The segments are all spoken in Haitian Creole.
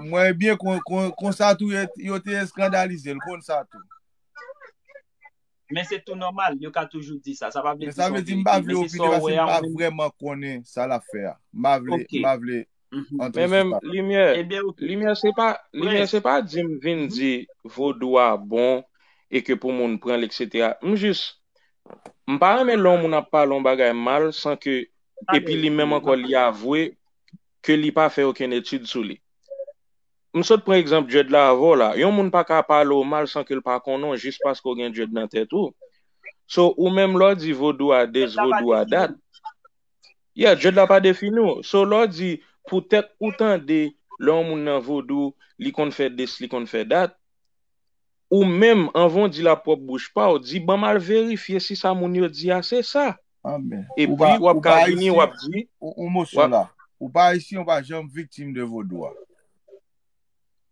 Mwen byen konsa tou yo te eskandalize l konsa tou. Men se tou nòmal, yo ka toujou di sa. Sa pa vle di sa vle di m pa vle opine paske m pa vreman konnen sa l ap fè a. M pa vle, m pa vle antre sou sa. Limyè, limyè se pa, limyè se pa di m vin di vodou a bon e ke pou moun pran l eksetera. M jis, m pa renmen lè yon moun ap pale yon bagay mal san ke, epi li menm ankò li avwe. ke li pa fè okenn etid sou li. M sot pran egzanp djèd la avè w la. Yon moun pa ka pale w mal san ke l pa konnen w jis paske w gen djèd nan tèt ou. So, ou menm lè w di vodou a this, vodou a that, yeah, djèd la pa defini w. So, lè w di poutèt ou tande lè yon moun nan vodou, li konn fè this, li konn fè that, Ou menm, anvan w di l a pwòp bouch pa w, di ban m al verifye si sa moun yo di a se sa. Epi, w ap ka vini, w ap di. Yon mo sou la. Ou pa Ayisyen, ou pa janm viktim de vodou a.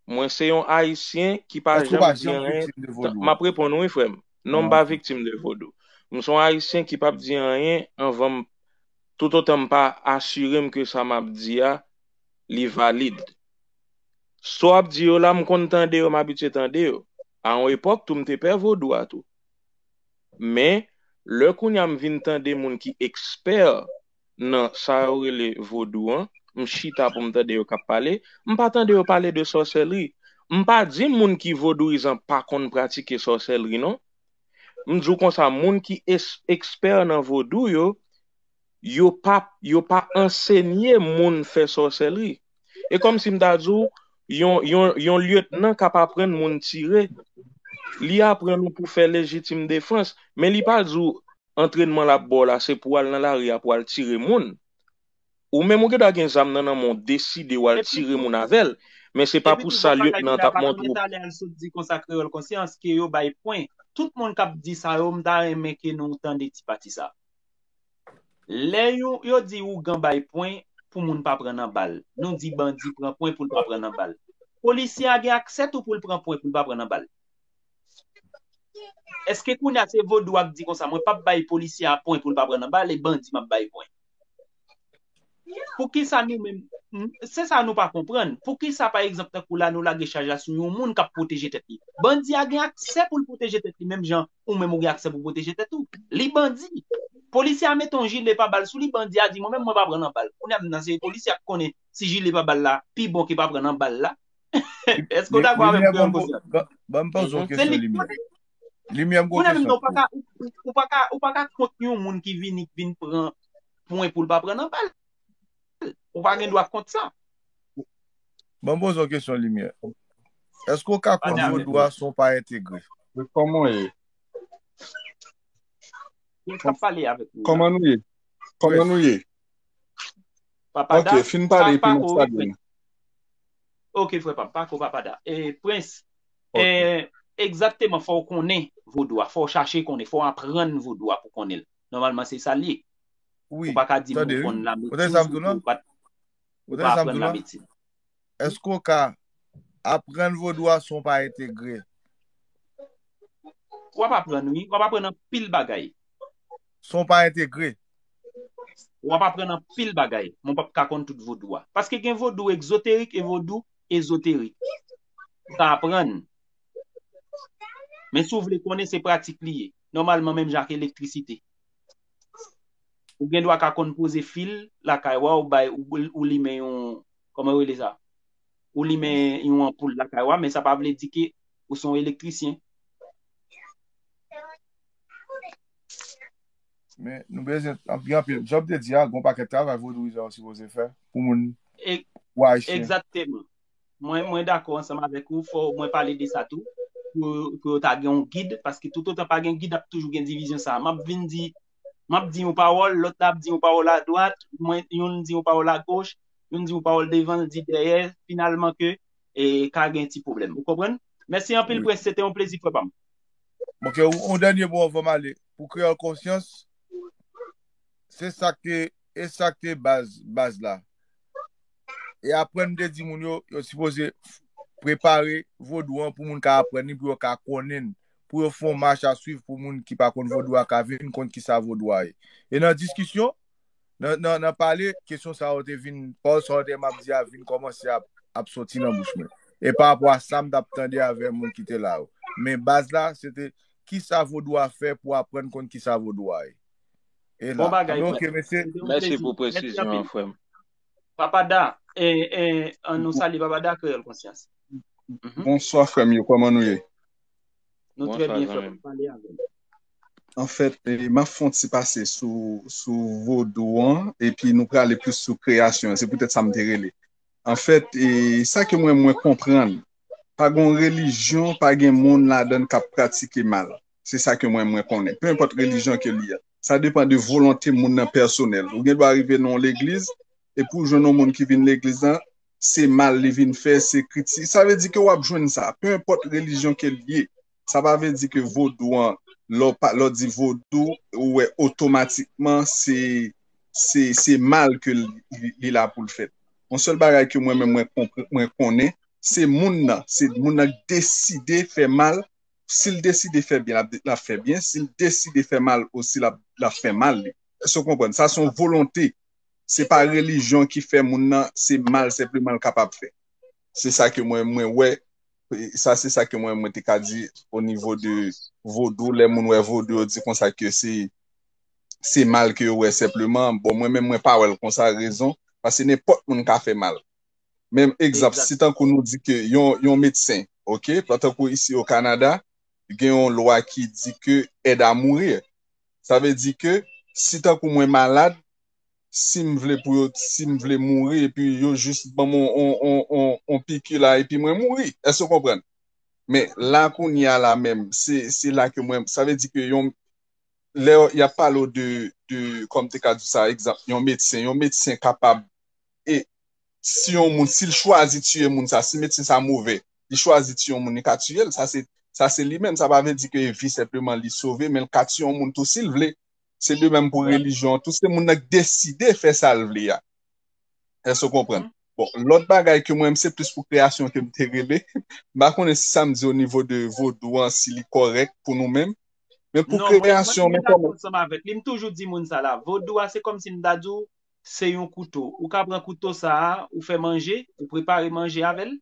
Mwen se yon Ayisyen ki pa janm di anyen. M ap reponn ou wi frè m. Non m pa viktim de vodou. M se yon Ayisyen ki pap di anyen anvan m, toutotan m pa asire m ke sa m ap di a li valid. Saw ap di yo la m konn tande yo m abitye tande yo. A yon epòk tou m te pè vodou a tou. Men lè kounya m vin tande moun ki ekspè nan sa yo rele vodou an, m chita pou m tande yo k ap pale, m pa tande yo pale de sòsèlri. M pa di moun ki vodouyizan pa konn pratike sòsèlri non. M di w konsa moun ki ekspè nan vodou yo, yo pa yo pa ansenye moun fè sòsèlri. E kòm si m ta di w, yon yon yon lyetnan k ap aprann moun tire, li aprann ou pou fè lejitim defans, men li pa di w antrènman l ap ba w la se pou w al nan lari a pou w al tire moun. Ou menm ou gen dwa gen zam nan nan men w deside w al tire moun avè l, men se pa pou sa lyetnan an t ap montre w. Talè l sot di konsa Kreyòl Konsyans ke yo bay pwen. Tout moun k ap di sa yo, m ta renmen ke nou tande ti pati sa. Lè yon yo di ougan bay pwen pou moun pa pran nan bal. Nou di bandi pran pwen pou l pa pran nan bal. Polisye a gen aksè tou pou l pran pwen pou l pa pran nan bal. Eske kounye a se vodou a k di konsa mwen p ap bay polisye a pwen pou l pa pran nan bal e bandi m ap bay pwen? Poukisa nou menm, se sa nou pa konprann, poukisa pa egzanp tankou la nou lage chaj la sou yon moun kap pwoteje tèt li? Bandi a gen aksè pou l pwoteje tèt li menm jan ou menm ou gen aksè pou pwoteje tèt ou. Li bandi. Polisye a mete yon jile pa bal sou li, bandi a di mwen menm mwen pa pran nan bal. Kounye a m nan se polisye a ki konnen si jile pa bal la pi bon ke pa pran nan bal la. Èske w dakò avè m kreyòl konsyan? Ban m poze yon kesyon Limyè. Limyè m gwo kesyon tou. Mwen menm nan ou pa ka kont yon moun ki vini ki vin pran pwen pou l pa pran nan bal. Ou pa gen dwa kont sa. Ban m poze yon kesyon Limyè. Eske ou ka kont Vodou a san w pa entegre? Kòman w ye? Kòman nou ye? Kòman nou ye? Ok, fin pale epi n ap salye nou. Ok frè pa m, pako Papada. E Prince? Egzakteman, fò w konnen vodou a, fò w chache konnen, fò w aprann vodou a pou w konnen l. Nòmalman se sa l ye. Ou pa ka di m ou konn lamedsin si ou pa aprann lamedsin. Eske ou ka aprann vodou a san ou pa entegre? Ou ap aprann wi, ou ap aprann anpil bagay. San ou pa entegre? Ou ap aprann anpil bagay, men ou pa p ka konn tout vodou a. Paske gen vodou egzoterik e vodou. ezoterik. Ou ka aprann. Men si w vle konnen se pratik li ye. Nòmalman menm jan ak elektrisite. Ou gen dwa ka konn poze fil lakay wa ou bay ou limen yon kòman yo rele sa? Ou limen yon anpoul lakay wa men sa pa vle di ke ou se yon elektrisyen. Men, nou bezwen, gen anpil, jan m te di a, gen yon pakèt travay vodouyizan yo sipoze fè pou moun, pou Ayisyen. Egzakteman. Mwen, mwen dakò ansanm avèk ou, fò mwen pale de sa tou, pou, pou yo ta gen yon gid, paske toutotan pa gen gid ap toujou gen divizyon sa a. M ap vin di, m ap di yon pawòl, lòt la ap di yon pawòl adwat, mwen, youn di yon pawòl agoch, youn di yon pawòl devan, l di dèyè, finalman ke, e, ka gen ti pwoblèm. Ou konprann? Mèsi anpil, Prince, se te yon plezi, frè pa m. Ok, yon dènye mo anvan m ale. Pou kreyòl konsyans, se sa k te, e sa k te baz, baz la. E apre m te di moun yo, yo sipoze prepare vodou an pou moun ka aprann li, pou yo ka konnen l. Pou yo fè yon mach a swiv pou moun ki pa konn vodou a ka vin konn ki sa vodou a ye. E nan diskisyon. Nan nan pale, kesyon sa yo te vin, pawòl sa yo te map di a vin kòmanse ap ap soti nan bouch mwen. E pa rapò a sa m tap tande avè moun ki te la yo. Men baz la, se te kisa vodou a fè pou aprann konn kisa vodou a ye. E Bon la. bagay Anben frè. ok mesye. Se te yon Mèsi plezi. pou Mèsi presizyon anpil. an frè m. Papa Da, e, e, an nou salye Papa Da Kreyòl Konsyans. Mhm. Bonswa frè m yo, kòman nou ye? Nou trè byen frè mwen pale avèm. Anfèt, m ap fon ti pase sou vodou an, epi nou prale plis sou kreyasyon an, se pou tèt sa m te rele. Anfèt, sa ke mwen mwen konprann, pa gon relijyon, pa gen moun ladan k ap pratike mal. Se sa ke mwen mwen konnen. Pe enpòt relijyon ke li ye. Sa depan de volonte moun nan pèsonèl. Ou gen dwa rive nan yon legliz, epi ou jwenn yon moun ki vin legliz lan, se mal li vin fè, se kritik, sa vle di ke wap jwenn sa, pe enpòt relijyon ke li ye, sa pa vle di ke vodou an, lè w di vodou, ou wè otomatikman se, se, se mal ke li la pou l fèt. Yon sèl bagay ke mwen menm mwen konnen, se moun nan, se moun nan ki deside fè mal, si l deside fè byen lap fè byen, si l deside fè mal osi lap fè mal li, èske w konprann, sa son volonte. se pa relijyon ki fè moun nan se mal senpleman l kapab fè. Se sa ke mwen mwen wè, sa se sa ke mwen mwen te ka di o nivo de vodou, lè moun wè vodou yo di konsa ke se se mal ke yo wè senpleman, bon mwen menm mwen pa wè l konsa, rezon, pase nenpòt moun ka fè mal. Men egzanp, si tankou nou di ke yon yon medsen, ok, tankou isi o Kanada, gen yon lwa ki di ke aide à mourir, Sa vle di ke si tankou mwen malad, si m vle pou yo, si m vle mouri epi yo jis ban m yon piki la epi mwen mouri. Èske w konprann? Men, la kounye a la menm, se la ke mwen, sa vle di ke yon, lè y ap pale w de, kòm m te ka di w sa, egzanp, yon medsen, yon medsen kapab e si yon moun sil chwazi tiye moun sa si medsen sa move li chwazi tiye yon moun li ka tiyel sa se sa se li menm sa pa vle di ke vi senpleman li sove men li ka tiye yon moun tou sil vle se de menm pou relijyon an tou se moun nan ki deside fè sal vle a èske ou konprann bon lòt bagay ke mwen menm se plis pou kreyasyon kem te rele m pa konnen si sam di o nivo de vodou an si li kòrèk pou nou menm men pou kreyasyon non mwen mwen dakò ansanm avèk li m toujou di moun sa la vodou a se kòmsi m ta di w se yon kouto. Ou ka pran kouto sa a, ou fè manje, ou prepare manje avè l.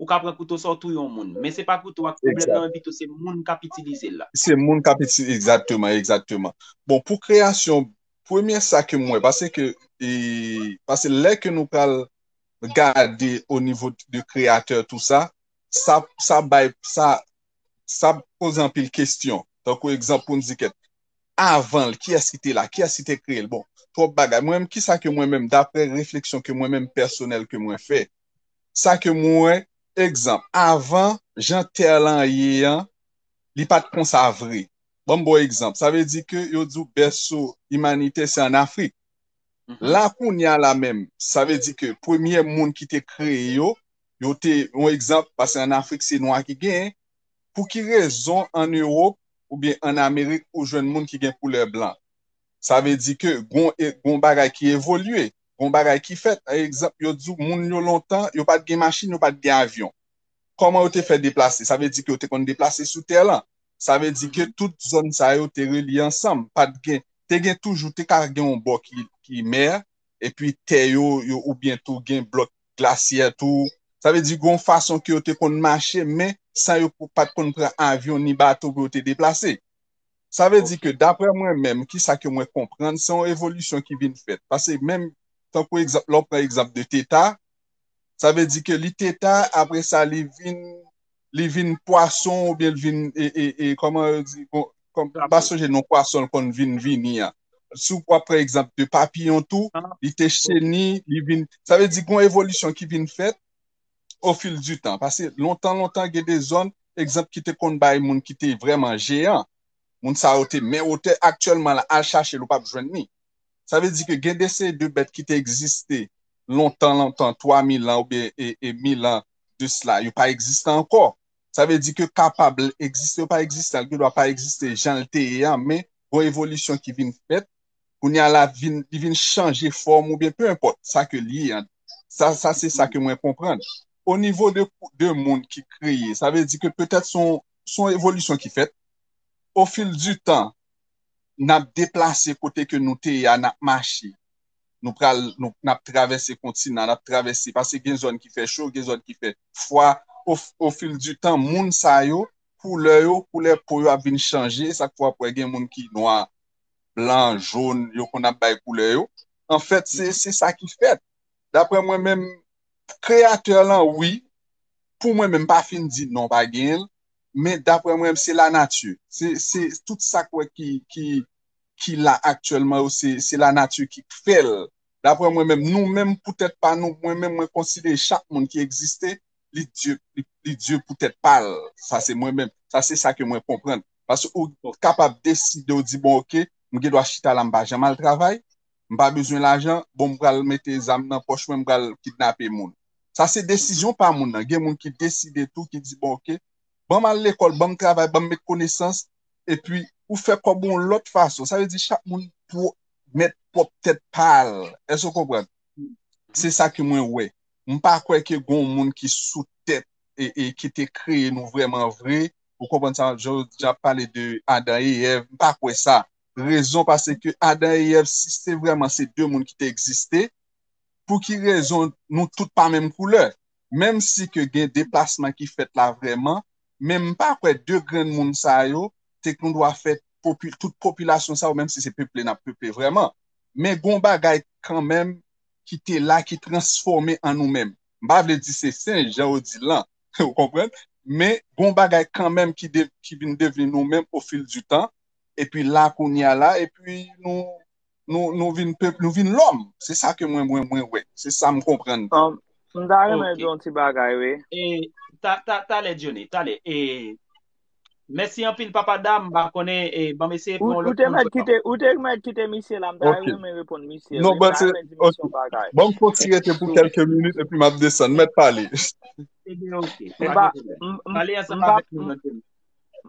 Ou ka pran kouto sa a, ou touye yon moun. Men se pa kouto a ki pwoblèm nan, men pito se moun k ap itilize l la. Se moun k ap itilize l, egzakteman, egzakteman. Bon, pou kreyasyon, premye sa ke m wè, pase ke, pase lè ke nou pral gade o nivo de kreyatè tou sa, sa, sa bay, sa, sa poze anpil kesyon. Tankou egzanp pou n di kèk, avan l, kiyès ki te la, kiyès ki te kreye l, bon, twòp bagay, mwen menm, kisa ke mwen menm, daprè refleksyon ke mwen menm pèsonèl ke mwen fè, sa ke mwen wè, egzanp, avan, jan tè lan ye an, li pa t konsa vre, ban m ba w egzanp, sa vle di ke yo di w bèso imanite se an Afrik, la kounye a la menm, sa vle di ke premye moun ki te kreye yo, yo te, yon egzanp, paske an Afrik se nwa ki genyen, Pou ki rezon an Europe oubyen an Amerik ou jwenn moun ki gen koulè blan? Sa vle di ke gon gon bagay ki evolye, gon bagay ki fèt. Egzanp, yo di w moun yo lontan, yo pa t gen machin, yo pa t gen avyon. Kòman yo te fè deplase? Sa vle di ke yo te konn deplase sou tè lan. Sa vle di ke tout zòn sa yo te relye ansanm. Pa t gen, te gen toujou, te ka gen yon bò ki ki mè, epi tè yo yo oubyen tou gen blòk. glasyè tou. Sa vle di gen yon fason ke yo te konn mache men san yo pa t konn pran avyon ni bato pou yo te deplase. Sa vle di ke dapre mwen menm, ki sa ke mwen konprann, se yon evolisyon ki vin fèt. Pase menm tankou egzanp, lè w pran egzanp de Teta, sa vle di ke li Teta apre sa li vin. li vin pwason ou byen li vin e kòman yo di m pa sonje non pwason l konn vin vini an si w ap pran egzanp de papiyon tou li te cheni li vin sa vle di gon evolisyon ki vin fèt o fil di tan pase lontan lontan gen de zòn egzanp ki te konn bay moun ki te vrèman jeyan moun sa yo te men wotè aktyèlman la al chache l ou p ap jwenn li. Sa vle di ke gen de seri de bèt ki te egziste lontan lontan, 3 mil an oubyen e mil an de sla, yo pa egziste ankò. Sa vle di ke kapab l egziste ou pa egziste, li gen dwa pa egziste jan l te ye an, men gon evolisyon ki vin fèt, kounye a la vin, li vin chanje fòm oubyen pe enpòt sa ke l ye an. Sa, sa se sa ke mwen konprann. O nivo de, de moun ki kreye, sa vle di ke petèt se yon, se yon evolisyon ki fèt o fil di tan. nap deplase kote ke nou te ye a nap mache nou pral nap travèse kontinan nap travèse paske gen zòn ki fè cho gen zòn ki fè fwa o fil di tan moun sa yo koulè yo koulè po yo ap vin chanje e sak fè wap wè gen moun ki nwa blan jón yo konn ap bay koulè yo anfèt se sa ki fèt daprè mwen menm kreyatè lan wi pou mwen menm m pa fin di non pa genyen l men daprè mwen se la nati se tout sa k wè ki ki la aktyèlman yo se la nati ki k fèl daprè mwen menm nou menm pou tèt pa nou mwen menm mwen konsidere chak moun ki egziste li dye li dye pou tèt pa l sa se mwen menm sa se sa ke mwen konprann paske ou kapab deside ou di bon ok m gen dwa chita la m pa janm al travay m pa bezwen lajan bon m pral mete zam nan pòch mwen m pral kidnape moun. Sa se desizyon pa moun nan. Gen moun ki deside tou, ki di bon ok, ban m al lekòl, ban m travay, ban m met konesans, epi ou fè kòb ou yon lòt fason. Sa vle di chak moun pou mèt pwòp tèt pa l. Èske ou konprann? Se sa ke mwen wè. M pa kwè ke gon w moun ki sou tèt e ki te kreye nou vrèman vre. Ou konprann sa m ap di w? Jan pale de Adan e Èv, m pa kwè sa. Rezon pase ke Adan e Èv, si se vrèman se de moun ki te egziste, pou ki rezon nou tout pa menm koulè, menm si ke gen deplasman ki fèt la vrèman, men m pa kwè 2 grenn moun sa yo te kondwa fè tout popilasyon sa yo, menm si se peple n ap peple vrèman, men gon bagay kanmenm ki te la ki transfòme an nou menm. M pa vle di se senj jan ou di l lan, ou konprann, men gon bagay kanmenm ki vin devni nou menm o fil di tan, epi la kounye a la, epi nou. nou vin pèp, nou vin lòm. Se sa ke mwen mwen mwen wè. Se sa m konprann. M ta renmen di yon ti bagay wi. Talè Diony, talè. Mèsi anpil papa dam, m pa konnen, ban m eseye pran yon lòt moun. Ou te mèt kite misye la, m ta renmen reponn misye. M ta renmen di misye yon bagay. Ban m fon ti rete pou kelke minit epi m ap desann. Mèt pale.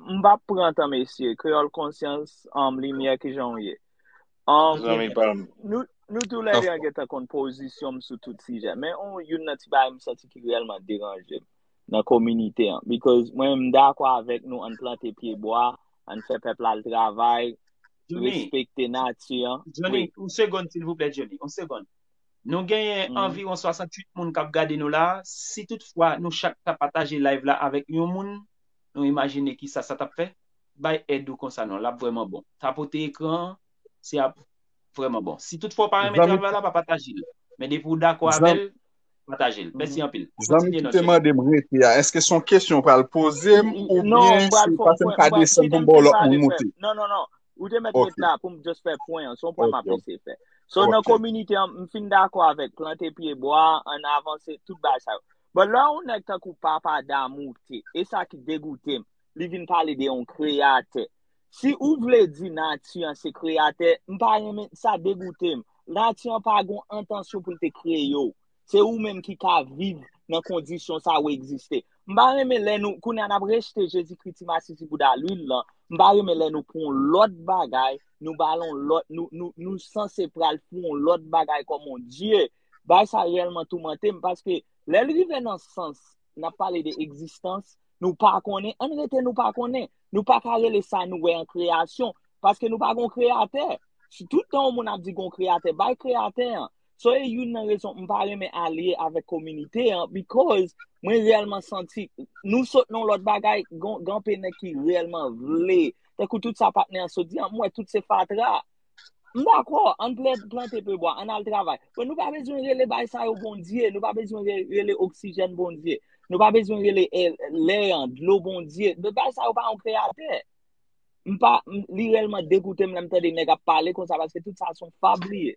M pa pran tan mesye. Kreyòl konsyans, limyè kijan ou ye? Zanmi pa m. Nou tou lè 2 an gentan konn pozisyon m sou tout sijè. Men youn nan ti bagay m santi ki reyèlman deranje m nan kominite an. Bikòz mwen m dakò avèk nou ann plante pye bwa, ann fè pèp la al travay, respekte nati an. Jhonny, yon segonn silvouplè Jhonny, yon segonn. Nou genyen anviwon 68 moun k ap gade nou la a. Si tout fwa nou chak ta pataje layv la avèk yon moun, nou imajine kisa sa t ap fè? bay èd ou konsa non lap vrèman bon tapote ekran an se ap vrèman bon si tout fwa ou pa renmen travay la pa patajel men depi ou dakò avèl patajel mèsi anpil kontinye non chèf eske son kesyon ou pral pozem oubyen se pasem ka desen poum baw lòt moun moute non non non ou te mèt ret la poum just fè pwen an son pwen map ese fè so nan kominite an m fin dakò avèk plante pye bwa an avanse tout bagay sa yo bon lè yon nèg tankou papa damou te esa ki degoutem li vin pale de yon kreyatè. Si ou vle di nati an se kreyatè, m pa renmen, sa degoute m. Nati an pa gen yon entansyon pou l te kreye ou. Se ou menm ki ka viv nan kondisyon sa ou egziste. M pa renmen lè nou, kounye a n ap rejte Jezikri, ti masisi bouda lwil lan, m pa renmen lè nou pran yon lòt bagay, nou ba l yon lòt, nou sanse pral fè yon lòt bagay kòm yon dye. Bagay sa reyèlman toumante m, paske lè l rive nan sans, n ap pale de egzistans, Nou pa konnen, an rete nou pa konnen. Nou pa ka rele sa nou wè an kreyasyon, paske nou pa gon kreyatè. Si tout tan ou moun ap di gon kreyatè, bay kreyatè an. So e youn nan rezon m pa renmen alye avèk kominite an, because mwen reyèlman santi, nou sot nan yon lòt bagay, gen anpe nèg ki reyèlman vle, tankou tout sa patnè an sot di an, m wè tout se fatra. M dakò, ann plante pye bwa, ann al travay. Bon, nou pa bezwen rele bay sa yo Bondye, nou pa bezwen rele oksijèn Bondye, nou pa bezwen rele lè an, dlo Bondye. Bon, bay sa yo pa yon kreyatè. M pa, li rèlman degoute m lè m tande nèg ap pale konsa paske tout sa son fab li ye.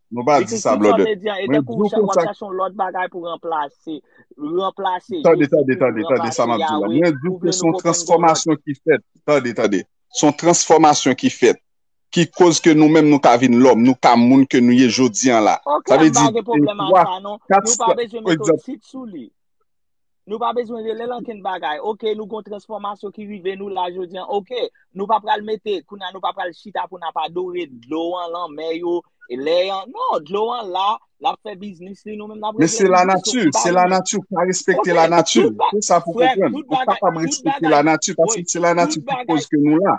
Nou pa di sa blòdè. Mwen di w konsa. Tande, tande, tande, tande sa m ap di w la. Mwen di w ke son transfòmasyon ki fèt. Tande, tande. Son transfòmasyon ki fèt. Ki koz ke nou menm nou ka vin lòm. Nou ka moun ke nou ye jodi an la. Sa vle di. Ok, m pa gen pwoblèm ak sa non. Nou pa bezwen mete tit sou li. Nou pa bezwen rele l ankenn bagay. Ok, nou gon transfòmasyon ki rive nou la jodi an. Ok, nou pa pral mete, kou nan nou pa pral chita pou nan pa dore dlo an, lanmè yo, e lè an. Non, dlo an la, la fè biznis li, nou menm nan prezè biznis. Men se la nati, se la nati pou pa respekte la nati. Pou sa pou pou pran. Pou pa pa respekte la nati, pasi se la nati pou pouz ke nou la.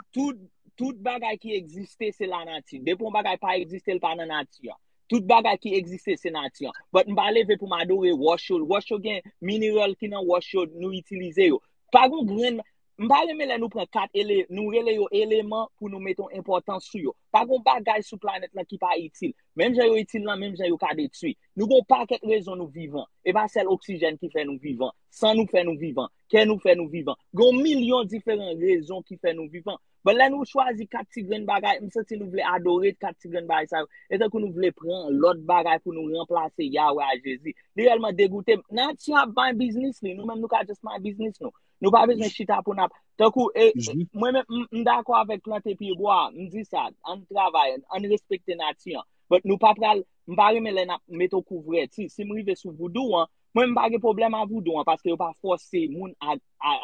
Tout bagay ki egziste se la nati. Depon bagay pa egziste l pa nan nati an. Tout bagay ki egziste se nati an. But m pa leve pou m adore wòch yo. Wòch yo gen mineral ki nan wòch yo nou itilize yo. Pa gon grenn M pa renmen lè nou pran kat ele nou rele yo eleman pou nou mete yon enpòtans sou yo. Pa gon bagay sou planèt lan ki pa itil. Menm jan yo itil lan menm jan yo ka detwi. Nou gen yon pakèt rezon nou vivan. E pa sèl oksijèn ki fè nou vivan. San nou fè nou vivan. Kè nou fè nou vivan. Gen yon milyon diferan rezon ki fè nou vivan. Bon lè nou chwazi 4 ti grenn bagay, m santi nou vle adore 4 ti grenn bagay sa yo. E tankou nou vle pran lòt bagay pou nou ranplase Yahweh a Jezi. Li rèlman degoute m. Nati ap bay biznis li, nou menm nou ka just bay biznis nou. Nou pa bezwen chita pou nap, tankou, e, mwen menm, m, m dakò avèk plante pye bwa a, m di sa, ann travay, ann respekte nati an. But nou pa pral, m pa renmen lè nap mete w kouvrèti. Si m rive sou voodoo an, Mwen m pa gen pwoblèm a voudou an paske yo pa fòse moun a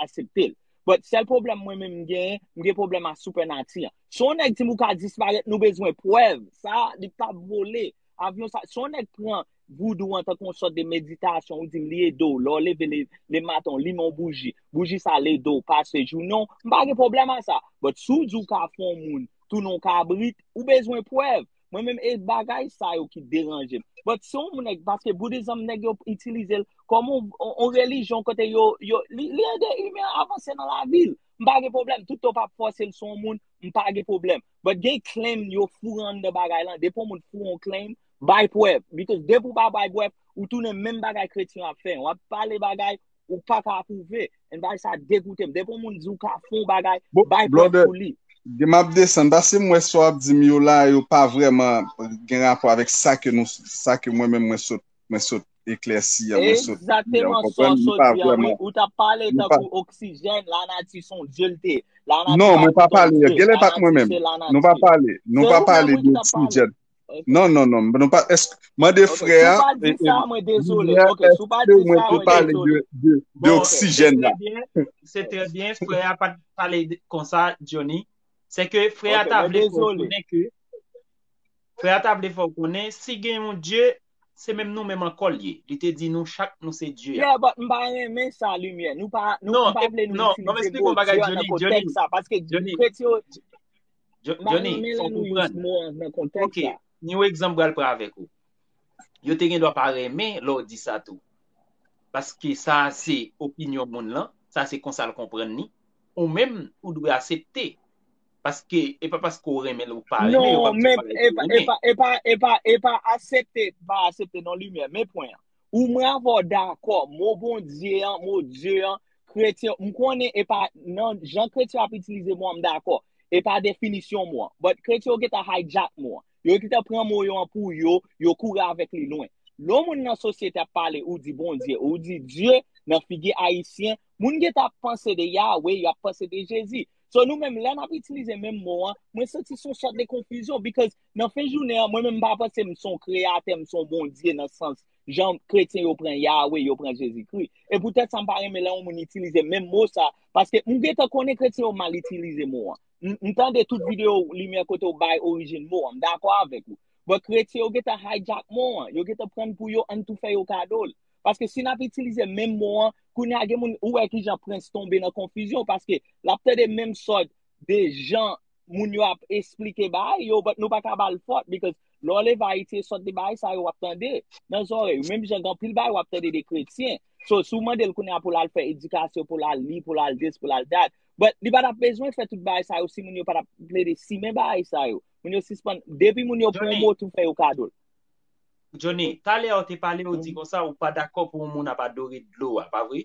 asepte l. But sèl pwoblèm mwen menm m genyen, m gen pwoblèm a supernati an. Si yon nèg di m ou ka disparèt nou bezwen prèv, sa a li p ap vole. Avyon sa, si yon nèg pran voudou an tankou yon sòt de meditasyon ou di m li ede w lè w leve le maten w limen yon bouji, bouji sa al ede w pase jounen w, m pa gen pwoblèm a sa. But si w di w ka fè yon moun tounen yon kabrit, ou bezwen prèv. Mwen menm e bagay sa yo ki deranje m. But si yon nèg, paske boudizm nèg yo itilize l kòm yon relijyon kote yo, li ede imen an avanse nan lavi l. M pa gen pwoblèm, tout tan w pa ap fòse l sou yon moun, m pa gen pwoblèm. But gen claim yo foure anndan bagay lan, depi yon moun foure yon claim, bay prèv. Because depi w pa bay prèv, ou tounen menm bagay kretyen yo ap fè an. W ap pale bagay, ou pa ka apwouve. An bay sa degoutem. Depi yon moun di ou ka fon bagay, bay prèv pou li. Blonde, map desann paske m wè sa wap di m yo la yo pa vrèman gen rapò avèk sa ke nou, sa ke mwen menm mwen sot, mwen sot eklèsi an, mwen sot di an, ou konprann? Li pa vrèman. Ou ta pale tankou oksijèn, lanati son dye l te. Non, mwen pa pale, genlè pa t mwen menm. Nou pa pale, nou pa pale de oksijèn. Non, non, non. Mwen pa, esk, mwen de frè a. Sou pa di sa, mwen dezole. Ok, sou pa di sa, mwen dezole. De oksijen la. Se te bien, frè a pa pale konsa, Johnny. Se ke frè a ta vle fò konen ke, frè a ta vle fò konen, si gen yon Dye, se menm nou menm anko li. Li te di nou chak nou se Dye. Yeah, but mpa renmen sa, Limye. Nou pa, nou pa vle nou itilize mo Dye nan konteks sa. Paske, kretyon. Johnny, fok ou pran. Ok, ni ou egzanp bral pran avèk ou. Yo te gen do pa renmen lò ou di sa tou. Paske sa se opinyon moun lan, sa se konsa l konprann ni. Ou menm, ou dwe asepte. Paske, e pa paske ou renmen l ou pa renmen. Non, men, e pa asepte, pa asepte non limye. Men pwen an. Ou mwen avè w dakò, mo Bondye an, mo Dye an, kretyen, m konnen e pa nan jan kretyen ap itilize mo an m dakò, e pa definisyon mo an. But kretyen yo gentan hijack mo an. Yo gentan pran mo yo an pou yo, yo kouri avèk li lwen. Lè yon moun nan sosyete ap pale ou di Bondye, ou di Dye, nan figi ayisyen, moun gentan ap panse de Yahweh, y ap panse de Jezi. So nou menm lè n ap itilize menm mo an, mwen santi s on sòt de konfizyon because Nan fen jounen an, mwen menm m pa panse m son kreyatè, m son Bondye nan sans jan kretyen yo pran Yahweh, yo pran Jezikri. E poutèt sa m pa renmen lè yon moun itilize menm mo sa, paske m gentan konnen kretyen yo mal itilize mo an. M tande tout videyo ou Limyè kote ou bay orijin mo an, m dakò avèk ou. But kretyen yo gentan hijack mo an, yo gentan pran l pou yo, ann tou fè yo kado l. Paske si n ap itilize menm mo an, kounye a gen moun, ou wè kijan Prince tonbe nan konfizyon, paske l ap tande menm sòt de jan, moun yo ap esplike bay yo, but nou pa ka bal fot, because lè w leve Ayiti e sòt de bagay sa yo wap tande nan zòrèy ou, menm jan gen anpil bagay wap tande de kretyen, so si w mande l kounye a pou l al fè edikasyon, pou l al li, pou l al this, pou l al that, but li pa tap bezwen fè tout bagay sa yo si moun yo pa tap plede simen bagay sa yo, moun yo sispann, depi moun yo pran yon mot ou fè yo kado l. Johnny, talè a ou te pale ou di konsa ou pa dakò pou yon moun ap adore dlo a, pa vre?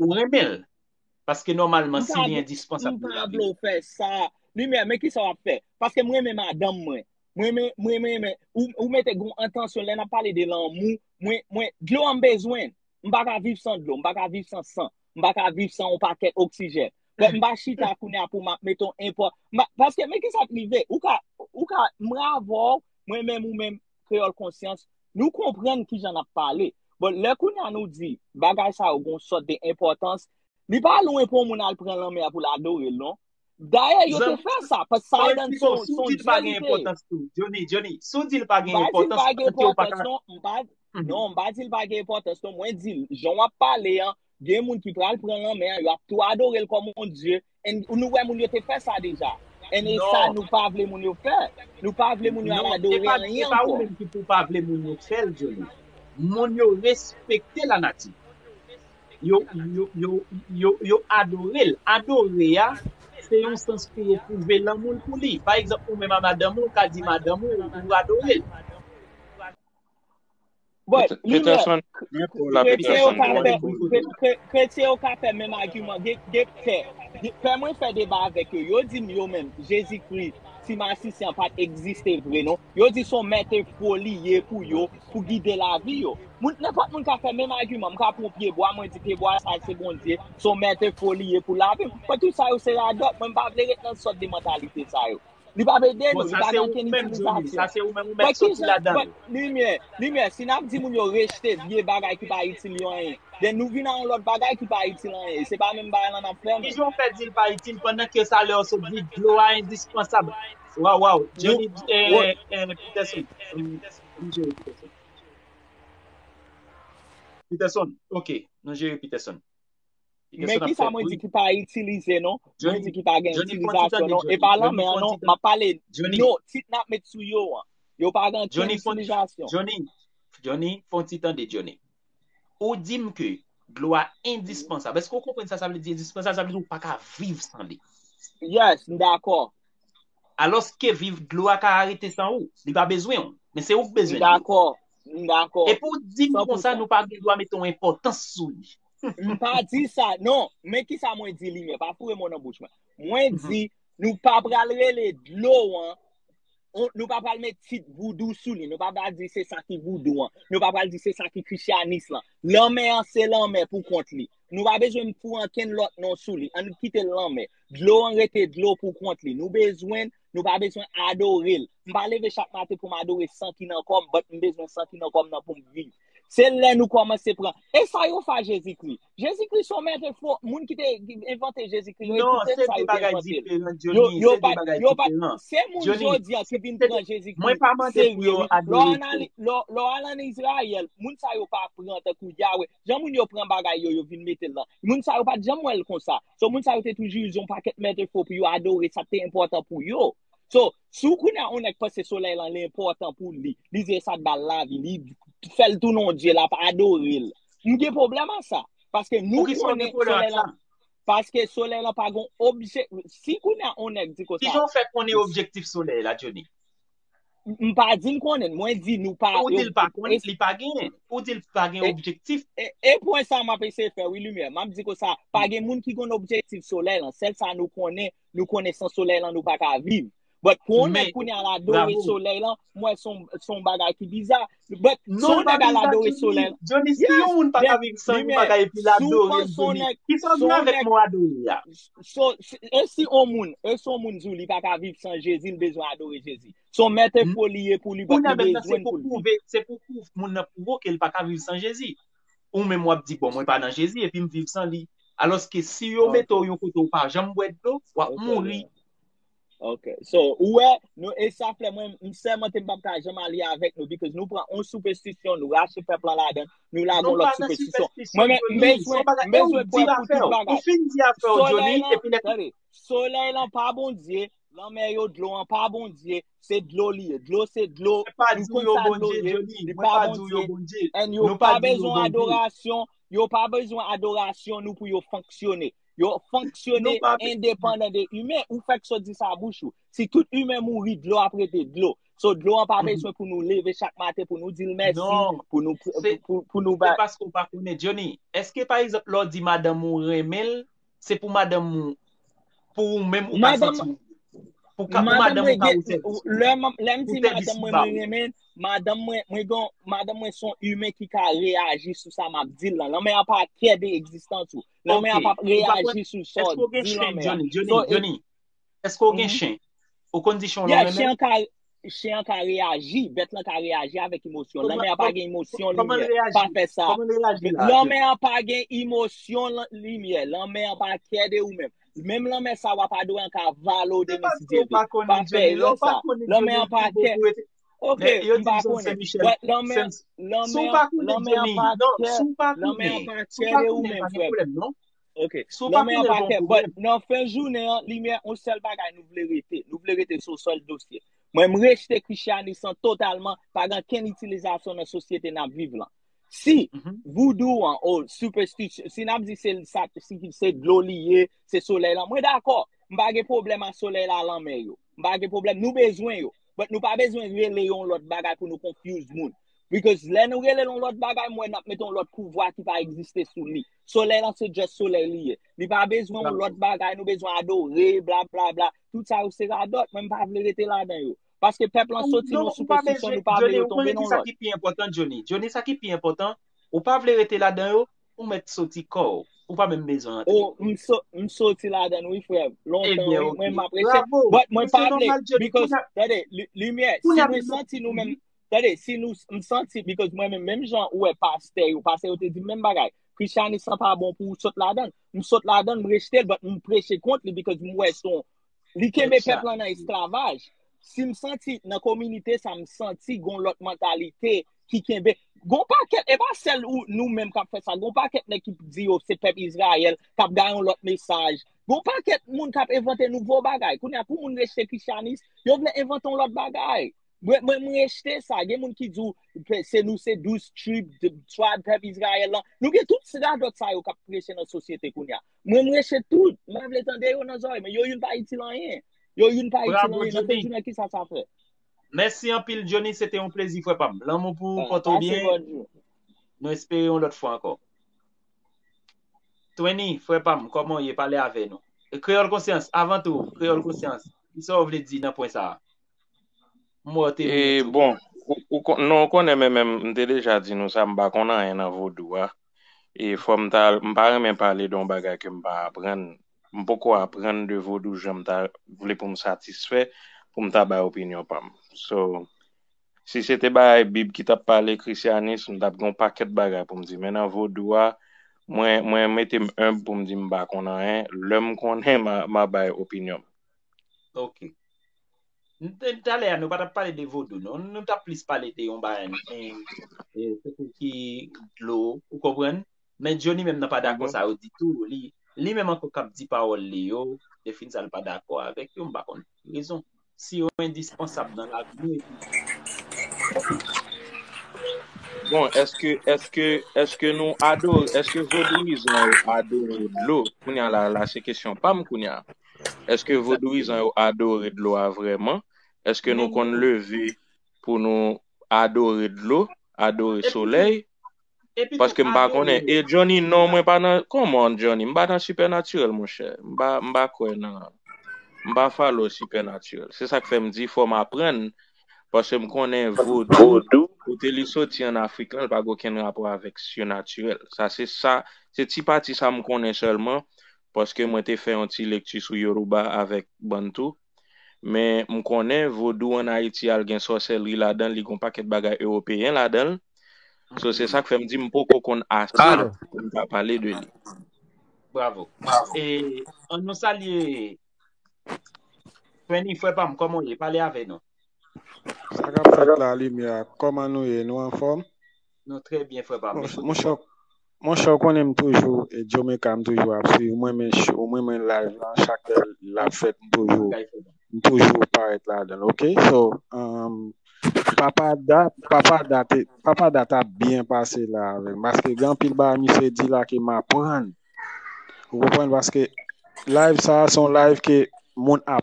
Ou renmen l? Paske nòmalman si li endispansab pou lavi. M pa vle w fè sa. Limyè, men kisa w ap fè? Paske m renmen madanm mwen. M renmen, m renmen, men ou mete gon entansyon lè n ap pale de lanmou. Mwen, mwen, dlo a m bezwen l. M pa ka viv san dlo. M pa ka viv san san. M pa ka viv san yon pakèt oksijèn. Bon, m pa chita kounye a pou m ap mete yon enpò. M pa, paske men kisa k rive? Ou ka, ou ka, m ravò w, mwen menm ou menm. kreyòl konsyans, nou konprann ki jan n ap pale. Bon, lè kounye a nou di bagay sa yo gen yon sòt de enpòtans, li pa lwen pou yon moun al pran lanmè a pou l adore l non. Dayè, yo te fè sa, paske sa a dan son dye li te ye. Joni, Joni, si w di l pa gen enpòtans, sa vle di w pa gen enpòtans. Non, m pa di l pa gen enpòtans non. Mwen di l, jan w ap pale an, gen moun ki pral pran lanmè a, yo ap tou adore l kòm yon dye, And nou wè moun yo te fè sa deja. And e sa Non, nou pa vle moun yo fè. Nou pa vle moun yo al non, se adore pa, se anyen pa ou ankò. menm ki pou pa vle moun yo fè l, Joly. Moun yo respekte lanati. Yo, yo, yo, yo, yo adore l. Adore a, se yon sans pou yo pwouve lanmou l pou li. Pa egzanp, ou menm a madanm ou, ou ka di madanm ou, ou adore l. Bon, li mè, kretyen yo ka fè, kretyen yo ka fè menm agiman, gen, gen, fè, fè mwen fè deba avèk yo, yo di m yo menm, Jezi Kri, ti masisi an pat egziste vre non, yo di son mète fo li ye pou yo, pou gide lavi yo. Moun, nenpòt moun ka fè menm agiman, m ka pran yon pye bwa, mwen di pye bwa sa se Bondye, son mète fo li ye pou lavi m. Mwen tout sa yo se radòt, mwen m pa vle ret nan sòt de mantalite sa yo. Li pa vle ede nou, li pa gen okenn itilizasyon. Bon, ki jan, bon, limyè, limyè, si n ap di moun yo rejte vye bagay ki pa itil yo anyen, den nou vin nan yon lòt bagay ki pa itil anyen, e se pa menm bagay lan n ap fè menm. Ki jan w fè di l pa itil pandan ke sa lè w sot di dlo a endispansab? Waw, waw, Johnny Peterson, nou jere Peterson. Peterson, ok, nou jere Peterson. Men ki sa mwen di ki pa itilize non, mwen di ki pa gen itilizasyon non, e pa lanmè an non, ma pale no, tit nap met sou yo an, yo pa gen ken itilizasyon. Johnny, Johnny, fon ti tande Johnny. Ou di m ke dlo a endispansab, eske ou konpren sa sa vle di endispansab, sa vle di ou pa ka viv san li. Yes, m dakò. Alos ke viv dlo a ka arete san ou, li pa bezwen ou, men se ou k bezwen dlo. M dakò, M dakò. Epi w di m konsa nou pa gen dwa mete yon enpòtans sou li. M pa di sa. Non, men ki sa mwen di limyè. Pa foure mo nan bouch mwen. Mwen di nou pa pral rele dlo an, nou pa pral met tit voudou sou li. Nou pa pral di se sa ki voudou an. Nou pa pral di se sa ki krisyanis lan. Lanmè an se lanmè pou kont li. Nou pa bezwen foure ankenn lòt non sou li. Annou kite l lanmè. Dlo an rete dlo pou kont li. Nou bezwen Nou pa bezwen adore l. M pa leve chak maten pou m adore san ki nan kò m, but m bezwen san ki nan kò m nan pou m viv. Se lè nou kòmanse pran. E sa yo fè a Jezikri? Jezikri son mèt enfo. Moun ki te envante Jezikri yo, Non, ekoute'm se sa de yo te bagay envante l. diferan, Yo, Johnny. yo Se de pa, bagay yo pa, diferan. se moun Johnny, jodi a ki vin se de... pran Jezikri Mwen pa mande pou serye yo wi. Lè w adore fo. anali, lè w, lè w al an Izrayèl, moun sa yo pa pran tankou Yahweh. Jan moun yo pran bagay yo, yo vin mete l nan. Moun sa yo pat janm wè l konsa. So moun sa yo te toujou ize yon pakèt metafo pou yo adore sa k te enpòtan pou yo. So, si kounye a yon nèg panse solèy lan li enpòtan pou li, li di e sa k ba l lavi, li fè l tounen yon dye, l ap adore l. M gen pwoblèm ak sa. Paske nou konnen solèy lan. Poukisa w gen pwoblèm ak sa? Paske solèy lan pa gen yon objektif. Si kounye a yon nèg di konsa. Kijan w fè konnen objektif solèy la, Johnny? M pa di m konnen, mwen di nou pa... Ou di l pa konnen, li pa genyen. Ou di l pa gen objektif. E pwen sa m ap eseye fè wi Limyè. M ap di kon sa, pa gen moun ki konn objektif solèy lan. Sèl sa nou konnen, nou konnen san solèy lan nou pa ka viv. But pou yon nèg kounye a l adore solèy lan, m wè son bagay ki biza. But non ou te ka adore soleil. Johnny, si yon moun pa ka viv san yon bagay epi la adore Johnny, ki sa ou gen avèk mou adore ya? So, e si yon moun, e si yon moun zou li pa ka viv san Jezi, li bezwen adore Jezi. So, mèt e fo li ye pou li, but li bezwen pou li. Kounye a menm nan se pou pwouve, se pou pwouve moun nan pwouve w ke li pa ka viv san Jezi. Ou menm w ap di bon mwen pa nan Jezi epi m viv san li. Alòske si yo mete w yon kote ou pa janm bwè dlo, w ap mouri. Ok, so, ou wè, nou e sa fè mwen, m sèmante m pap ka janm alye avèk nou, because nou pran on soupestisyon, nou rache pèp lan ladan, nou lagon lòt soupestisyon. Mwen men, m bezwen, m bezwen pwè pou tout bagay. Solèy lan, solèy lan pa bondye, lanmè yo dlo an pa bondye, se dlo li ye, dlo se dlo, nou kon sa dlo ye, li pa bondye, en yo pa bezwen adorasyon, yo pa bezwen adorasyon nou pou yo fonksyone. Yo fonksyone endepandan de imen. Ou fèk so di sa bouch ou. Si tout imen mouri, dlo ap rete dlo. So dlo an pa bezwen pou nou leve chak maten, pou nou dil mèsi, non. pou nou bay. Se paske ou pa konnen. Johnny, eske pa egzanp lè ou di madanm ou renmen l, se pou madanm ou, pou ou menm ou pa santi ou. Pou ka pou madanm ou ka ou sèvi. Lè m di madanm mwen mwen renmen, madanm mwen, mwen gon, madanm mwen son imen ki ka reyaji sou sa m ap di l lan. Lanmè an pa kè de egzistans ou. Lanmè a pap reyaji sou sa w di lanmè a. Johnny, Johnny, Johnny, èske ou gen chen? Ou konn di chen w lanmè menm? Chen an ka reyaji, bèt lan ka reyaji avèk emosyon. Lanmè a pa gen emosyon limyè. Pa fè sa. Lanmè a pa gen emosyon limyè. Lanmè a pa kè de ou menm. Menm lanmè sa w ap adore an ka vale w de misidyeve. Pa fè sa. Lanmè a pa kè. Ok, Men, yo m di pa John konnen. Saint-Michel. But lanmè, Saint- Si lanmè, w pa konnen lanmè an Johnny, pa non, kè, si w pa lanmè an konnen, pa si w kè pa de ou konnen, menm, pa gen frè. problèm, non. Ok, Si w pa lanmè an konnen, pa pa gen kè. But problèm. nan fen jounen an, limyè, on sèl bagay nou vle rete. Nou vle rete sou sèl dosye. Mwen m rejte Krisyanis lan totalman, pa gen kenn itilizasyon nan sosyete n ap viv lan. Si Mhm. voudou an, ou superstition, si n ap di se l sa, si se dlo li ye, se solèy lan, mwen dakò. M pa gen problèm a solèy la, lanmè yo. m pa gen problem, nou bezwen yo, but nou pa bezwen rele yo yon lot bagay pou nou confuse moun. Because lè nou rele l yon lot bagay, m wè n ap mete yon lot pouvwa ki pa egziste sou li. Solèy lan se just solèy li ye. Li pa bezwen yon lot bagay, nou bezwen adore, bla bla bla. Tout sa yo se radot, mwen m pa vle rete ladan yo. Paske pèp lan soti nan yon superstition, nou pa vle yo tonbe nan yon lot. Johnny, ou konnen ki sa ki pi enpotan, Johnny? Johnny, sa ki pi enpotan, ou pa vle rete ladan yo, Ou mèt soti kòw. Ou pa menm bezwen antre. Oh, m so, m soti ladann wi frè m. Lontan Ebyen wi, ok. mwen m apresye. Bravo! But mwen Mwen se pa vle, nòmal Jody. because, Kounye a, tande, li- limyè, kounye si a nou mwen santi nou menm, tande, si nou, m santi, because mwen menm, menm jan ou wè pastè yo, pastè yo te di m menm bagay, Christianisme lan pa bon pou ou sot ladann. M sot ladann, m rejte l, but m preche kont li because m wè son, Li kenbe pèp lan nan esklavaj. Si m santi nan kominite sa m santi gon lòt mantalite ki kenbe. Gon pakèt, e pa sèl ou nou menm k ap fè sa, gon pakèt nèg ki di yo se pèp Izrayèl k ap gaye yon lòt mesaj. Gon pakèt moun k ap envante nouvo bagay. Kounye a pou moun rejte krisyanis, yo vle envante yon lòt bagay. Mwen m rejte sa. Gen moun ki di w se nou se douz trib, twab pèp Izrayèl lan. Nou gen tout radòt sa yo k ap preche nan sosyete kounye a. Mwen mreche tout, m pa vle tande yo nan zorey mwen, yo youn pa itil anyen, yo youn pa itil Bravo, anyen, nan Johnny. fen jounen kisa sa fè? Mèsi anpil Johnny, se te yon plezi frè pa m. Lanmou pou ou, Alright, pòte w pase byen. bon jou. Nou espere yon lòt fwa ankò. Twenny, frè pa m, kòman w ye? Pale avè nou. Kreyòl Konsyans, avan tou, Kreyòl Konsyans, kisa w vle di nan pwen sa a? Mò te vini tou. E bon, non ou konnen men menm m te deja di nou sa m pa konn anyen nan vodou a. E fò m ta al, m pa renmen pale de yon bagay ke m pa aprann. M poko aprann de vodou jan m ta vle pou m satisfè pou m ta bay opinyon pa m. So, si se te bagay bib ki t ap pale, krisyanis, m t ap gen yon pakèt bagay pou m di. Men nan vodou a, mwen mete m enb pou m di m pa konn anyen. Lè m konnen, m a bay opinyon m. Ok. Talè a nou pa tap pale de vodou non, nou tap plis pale de yon bayan ki dlo, ou konprann? Men Johnny menm nan pa dakò sa yo ditou, li menm anko kap di pawòl li yo, defini sa l pa dakò avèk yo, m pa konn pou ki rezon. Si yo endispansab nan lavi nou epi. Bon, eske, eske, eske nou adore, eske vodouyizan yo adore dlo? Kounya la, la se kesyon pa m kounya. Eske vodouyizan yo adore dlo a vreman? Eske nou konn leve pou nou adore dlo, adore soley? Paske m pa konnen. E Johnny non mwen pa nan come on Johnny m pa nan sipènatirèl monchè. M pa m pa kwè nan m pa follow sipènatirèl. Se sak fè m di fò m aprann paske m konnen vodou kote li soti an Afrik lan li pa gen okenn rapò avèk sinatirèl. Sa se sa se ti pati sa m konnen sèlman paske mwen te fè yon ti lekti sou Yoruba avèk Bantou, men m konnen Vodou an Ayiti al gen sòsèlri ladan l, li gen yon pakèt bagay Ewopeyen ladan l, so se sa k fè m di m poko konn ase pou m ta pale de li. Bravo. E an nou salye Frenny frè pa m kòman w ye? Pale avè nou. Sa k ap fèt la limyè a? Kòman nou ye? Nou anfòm? Nou trè byen frè pam. Monchè ou konnen m toujou Jamaica m toujou ap swiv mwen men show mwen men live lan chak lè lap fèt m toujou m toujou parèt ladanl ok so papa Da papa Da te papa Da tap byen pase la avèm paske gen anpil bagay misye di la ke m aprann ou konprann paske live sa se yon live ke moun ap